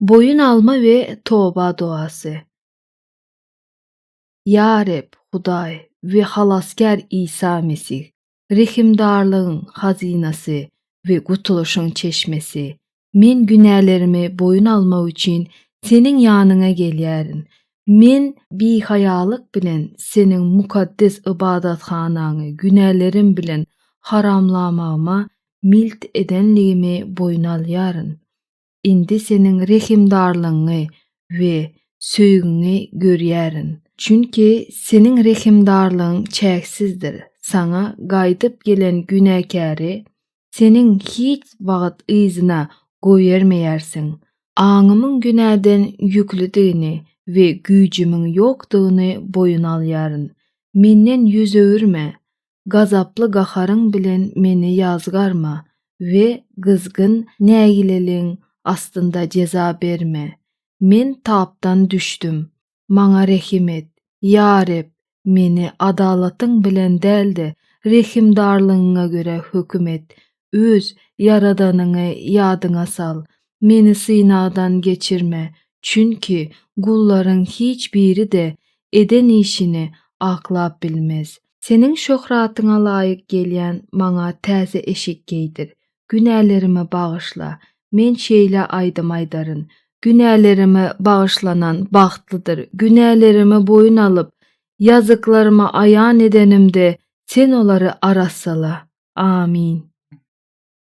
Boýun alma we toba doasy. Ýa Reb, Hudaý we Halasgär Isa Mesih, rehimdarlygyň Hazynasy we gutulyşyň Çeşmesi, men günälerimi boýun almak üçin Seniň ýanyňa gelýärin. Men bihaýalyk bilen Seniň mukaddes ybadathanaňy günälerim bilen haramlamagyma milt edenligimi boýun alýaryn. Indi Seniň rehimdarlygyňy we söýgiňi görýärin. Çünki Seniň rehimdarlygyň çäksizdir, Saňa gaýdyp gelen günäkäri Seniň hiç wagt yzyna goýbermeýärsiň. Aňymyň günäden ýüklüdigini we güýjümiň ýokdugyny boýun alýaryn. Menden ýüz öwürme. Gazaply gaharyň bilen meni ýazgarma we gyzgyn nägileligiň astynda jeza berme. Men tapdan düşdüm. Maňa rehim et. Ýa Reb, meni adalatyň bilen däl-de, rehimdarlygyňa görä höküm et. Öz Ýaradanyňy ýadyňa sal. Meni synagdan geçirme, çünki gullaryň hiç biri-de eden işini aklap bilmez. Seniň şöhratyňa laýyk gelýän maňa täze eşik geýdir. Günälerimi bagyşla. Men şeýle aýdym aýdaryn. Günälerimi bagyşlanan bagtlydyr. Günälerimi boýun alyp, ýazyklarymy aýan edenimde Sen olary arassala. Amin.